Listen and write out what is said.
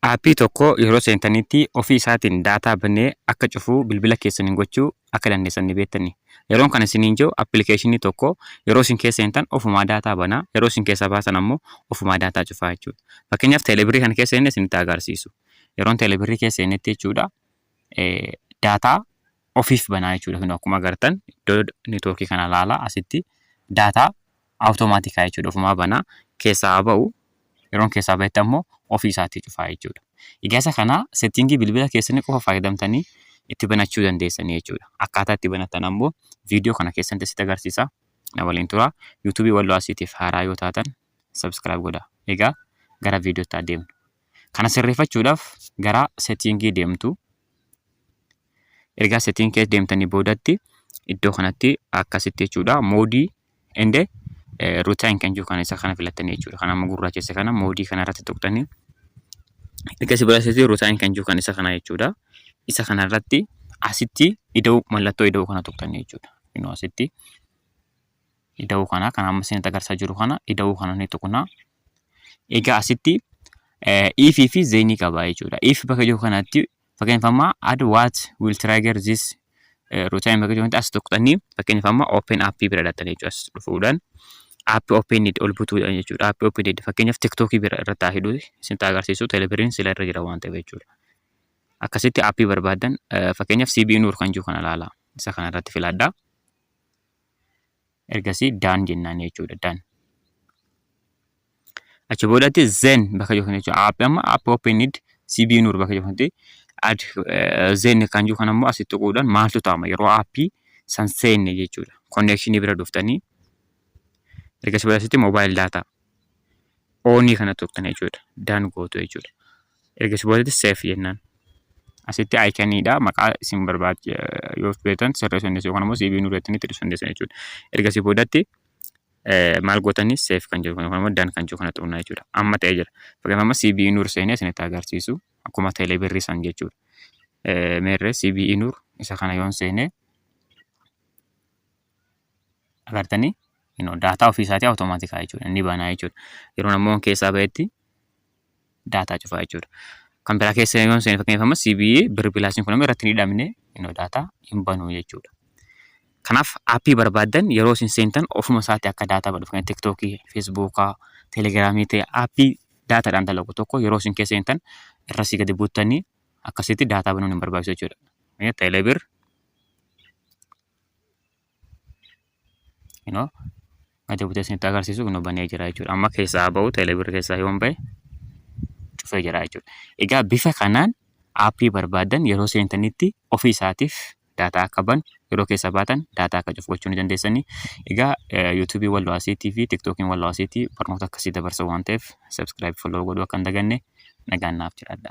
Aappii tokko yeroo seentaniitti ofii isaatiin daataa banee akka cufuu bilbila keessaniin gochuu akka dandeessan ni beettanii? Yeroon kana isiniin je'u appilikeeshinii tokko yeroo isin keessa seentan ofumaa daataa bana, yeroo isin keessaa baasan ammoo ofumaa daataa cufaa jechuudha. Fakkeenyaaf teelebirrii kana keessa seenne isinitti agarsiisu. Yeroon teelebirrii keessa seennetti jechuudha daataa ofiif banaa jechuudha. Kun akkuma agartan iddoo netwoorkii kana laala asitti daataa Awutomaatika jechuudha ofumaa banaa keessaa haa ba'u yeroon keessaa ba'etti ammoo ofii isaatii cufaa jechuudha. Egaa isa kana settingii bilbila keessanii qofa fayyadamtanii itti banachuu dandeessanii jechuudha. Akkaataa itti banatan ammoo viidiyoo kana keessatti sitti agarsiisa. Na waliin tura. Yuutuubii Walloo Arsiitiif haaraa yoo taatan subscribe godhaa. Egaa gara viidiyootti haa deemnu. Kana sirreeffachuudhaaf gara settingii deemtu. ergaa setting keessa deemtanii boodatti iddoo kanatti akkasitti jechuudha moodii ende ruutaan kan jiru kana isa kana filattanii jechuudha kan amma gurraachesse kana moodii kana irratti tuqxanii erga si biraasitti ruutaan kan jiru kan isa kana jechuudha isa kana irratti asitti ida'uu mallattoo ida'uu kana tuqxanii jechuudha inuu asitti ida'uu kana kan amma isin agarsiisaa jiru kana ida'uu kana ni tuqna egaa asitti iifii fi zeenii qaba jechuudha iif bakka jiru kanatti Fakkeenyaaf amma add what will trigger this routine bakka jirutti as tuqxanii fakkeenyaaf amma open app bira dhaxxanii jechuudha as dhufuudhaan app open need ol butuudhaan jechuudha app open need fakkeenyaaf tiktok bira irratti haa hidhu isin taa agarsiisu telebiriin sila irra jira waan ta'eef jechuudha akkasitti app barbaadan fakkeenyaaf CB Nuur kan jiru kana ilaala isa kana irratti filadhaa ergasii done jennaan jechuudha done. Achi boodatti zen bakka jiru kana jechuudha. App amma app open need CB nur bakka jiru kanatti ad zen kan jiru kan ammoo asitti tuquudhaan maaltu ta'ama yeroo appii san seenne jechuudha. Konneekshinii bira dhuftanii ergasii boodatti mobile data oonii kana tuqxan jechuudha. Done gootu jechuudha. Erga si boodetti save jennaan. Asitti iconiidha maqaa isin barbaad yoo feetan sirreessuu dandeessu yookaan immoo CV nu irratti ibsuu dandeessan jechuudha. Erga si boodatti maal gootanii save kan jedhu yookaan immoo done kan jedhu kana xuqnaa jechuudha. Amma ta'ee jira. Fakkeenyaaf amma CV nur seenee isinitti agarsiisu akkuma teelee birrii san jechuudha. Meerree CV nur isa kana yoon seenee agartanii daataa ofiisaatii awutomaatikii jechuudha. Inni banaa jechuudha. Yeroo namoonni keessaa ba'etti daataa cufaa jechuudha. Kan biraa keessa yoo seene fakkeenyaaf amma CBE birr pilaasiin kun amma irratti hin hidhamne innoo daataa hin banu jechuudha. Kanaaf aappii barbaaddan yeroo isin seentan ofuma isaatti akka daataa badhu fakkeenyaaf tiktookii, feesbuukaa, telegiraamii ta'e aappii daataadhaan dalagu tokko yeroo isin keessa seentan irra si gadi buuttanii akkasitti daataa banuun hin barbaachisu jechuudha. Teelebir you know gadi butee isinitti agarsiisu kun banee jira jechuudha. Amma keessaa haa ba'u teelebirri keessaa yoon ba'e cufee jira jechuudha. Egaa bifa kanaan aappii barbaadan yeroo seentanitti ofii isaatiif daataa akka banu yeroo keessa baatan daataa akka cufu gochuu ni dandeessanii. Egaa yuutuubii walloo asiitii fi tiktookiin walloo asiitii barnoota akkasii dabarsa waan ta'eef sabskiraayib folloo godhuu akka hin daganne nagaan naaf jiraadha.